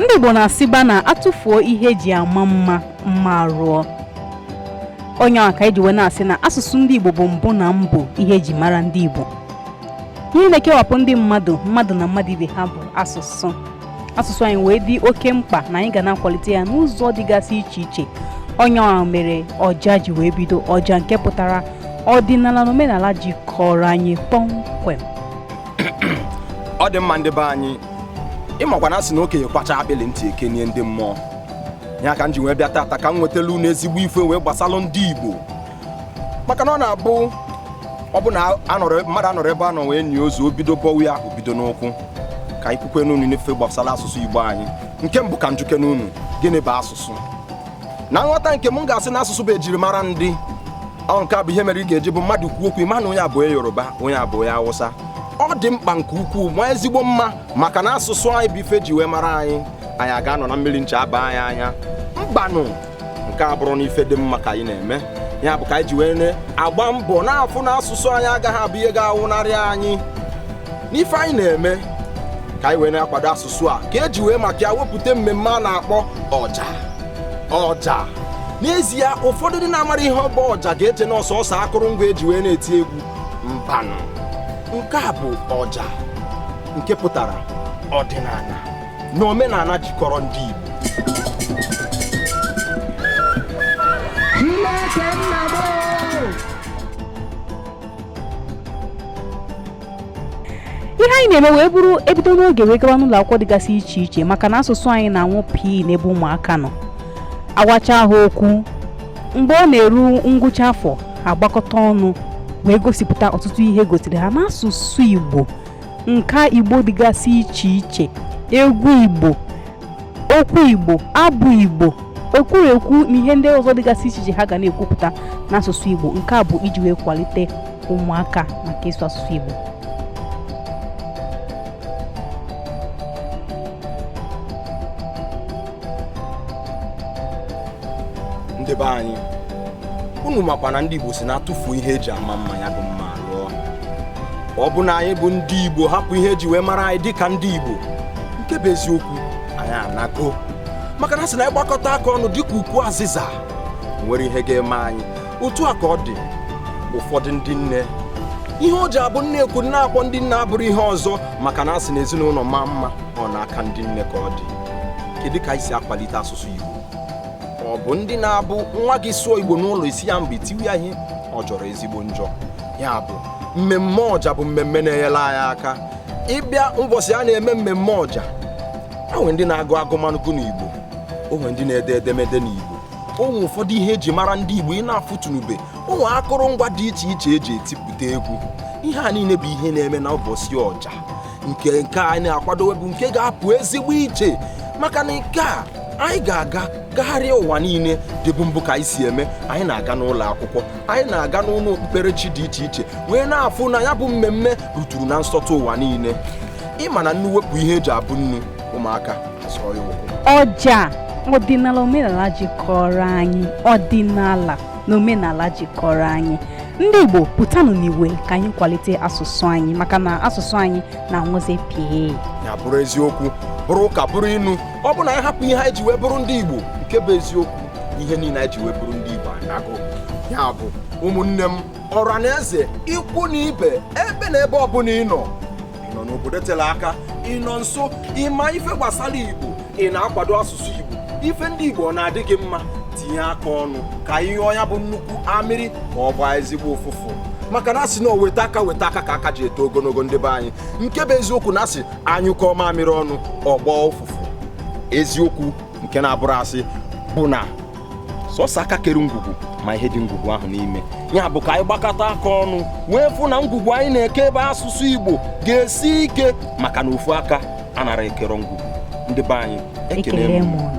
ndị Igbo na-asịkwa na atụfuo ihe eji ama mma mma arụọ ọ ya nwa ka eji wee na-asị na asụsụ ndị Igbo bụ mbụ na mbụ ihe eji mara ndị Igbo ihe na-ekewapụ ndị mmadụ mmadụ na mmadụ ibe ha bụ asụsụ asụsụ anyị wee dị oke mkpa na anyị ga na-akwalite ya n'ụzọ dịgasị iche iche ọ ya nwa mere ọja ji wee bido ọja nke pụtara ọdịnala na omenala jikọrọ anyị kpọmkwem ọ dị mma ndị be anyị ị makwa na asị na okenye kwachaa akpịlị ntị ekenie ndị mmụọ ya ka m ji wee bịa taata ka m wetalụ unu ezigbo ife wee gbasalụ ndị igbo maka na ọ na-abụ ọ bụ na mmadụ anọrọ ebe a nọ wee nie ozu o bido bọwa ya o bido n'ụkwụ ka anyị kwukwenụnụ n'ife gbasara asụsụ Igbo anyị nke mbụ ka m jụkene unu gịnị bụ asụsụ na nghọta nke m m ga-asị na asụsụ bụ ejirimara ndị ọ nke a bụ ihe mere ị ga-eji bụ mmadụ kwuo okwu ị ma na onye a bụ onye Yoruba onye a bụ onye Awụsa ọ dị mkpa nke ukwuu ma ezigbo mma maka na asụsụ anyị bụ ife ji wee mara anyị anyị aga-anọ na mmiri ncha abaa anyị anya mbanụ nke a abụrọnụ ife dị mma ka anyị na-eme ya bụ ka anyị ji wee na-agba mbọ na-afụ na asụsụ anyị agaghị abụ ihe ga-anwụnarị anyị n'ife anyị na-eme ka anyị wee na-akwado asụsụ a ka eji wee maka ya wepụta mmemme a na-akpọ ọja ọja n'ezie ụfọdụ ndị na-amarọ ihe ọ bụ ọja ga-eche na ọ sọsọ akụrụngwa eji wee na-eti egwu mbanụ nke a bụ ọja nke pụtara ọdịnala na omenala jikọrọ ndị Igbo ihe anyị na-eme wee bụrụ ebido n'oge wee gawa n'ụlọ akwụkwọ dịgasị iche iche maka na asụsụ anyị na-anwụ pii n'ebe ụmụaka nọ agwacha ha okwu mgbe ọ na-eru ngwụcha afọ ha agbakọta ọnụ wee gosipụta ọtụtụ ihe egosiri ha n'asụsụ Igbo nka igbo dịgasị iche iche egwu igbo okwu igbo abụ igbo ekwurekwu na ihe ndị ọzọ dịgasị iche iche ha ga na-ekwupụta n'asụsụ igbo nke a bụ iji wee kwalite ụmụaka maka ịsụ asụsụ igbo ndị be anyị unu makwa na ndị igbo si na atụfuo ihe eji ama mma ya bụ mma ọ bụ na anyị bụ ndị Igbo hapụ ihe eji wee mara anyị dịka ndị Igbo nke bụ eziokwu anyị anago maka na sị na anyị gbakọta aka ọnụ dịka ukwu azịza o nwerọ ihe ga-eme anyị otu a ka ọ dị ụfọdụ ndị nne ihe o ji abụ nne ekwu na-akpọ ndị nne abụrụ ihe ọzọ maka na asị na ezinụlọ maa mma ọ n'aka ndị nne ka ọ dị kedu ka anyị si akwalite asụsụ Igbo ọ bụ ndị na-abụ nwa gị sụọ igbo n'ụlọ ị sị ya mba i tiwe ya ihe ọ jọrọ ezigbo njọ ya bụ mmemme ọja bụ mmemme na-enyere anyị aka ịbịa ụbọchị a na-eme mmemme ọja o nwere ndị na-agụ agụmagụ n'igbo o nwere ndị na-ede edemede n'igbo o nwere ụfọdụ ihe eji mara ndị igbo ị na-afụtunube o nwere akụrụngwa dị iche iche eji etipụta egwu ihe a niile bụ ihe a na-eme na ụbọchị ọja nke nke a anyị na-akwadowe bụ nke ga-apụ ezigbo iche maka na nke a anyị ga-aga gagharịa ụwa niile dịbụ mbụ ka anyị si eme anyị na-aga n'ụlọ akwụkwọ anyị na-aga n'ụlọ okpukperechi dị iche iche wee na-afụ na ya bụ mmemme ruturu na nsọtụ ụwa niile ị ma na nnu wepụ ihe eji abụ nnu ụmụaka azọọ ya ụkwụ ọja ọdịnala omenala jikọrọ anyị ọdịnala na omenala jikọrọ anyị ndị Igbo pụtanụ n'igwe ka anyị kwalite asụsụ anyị maka na asụsụ anyị na-anwụzi pịị ya bụrụ eziokwu bụrụ ụka bụrụ inu ọ bụ na anyị hapụ ihe anyị ji wee bụrụ ndị Igbo nke bụ eziokwu ihe niile anyị ji wee bụrụ ndị Igbo anago ya bụ ụmụnne m ọra na eze ikwu na ibe ebe na ebe ọbụla ị nọ ị nọ n'obodo tere aka ị nọ nso ị ma ife gbasara igbo ị na-akwado asụsụ igbo ife ndị igbo ọ na-adị gị mma tinye aka ọnụ ka ihe ya bụ nnukwu amịrị ọ gbọọ ezigbo ụfụfụ maka na a sị na weta aka weta aka ka aka ji eto ogologo ndị be anyị nke bụ eziokwu na a sị a nyụkọọ mamịrị ọnụ ọ gbọọ ụfụfụ eziokwu nke na-abụrọ asị bụ na sọsọ aka kere ngwugwu ma ihe dị ngwugwu ahụ n'ime ya bụ ka anyị gbakọta aka ọnụ wee fụ na ngwugwu anyị na-eke ebe asụsụ Igbo ga-esi ike maka na ofu aka anarọ ekere ngwugwu ndị be anyị ekele m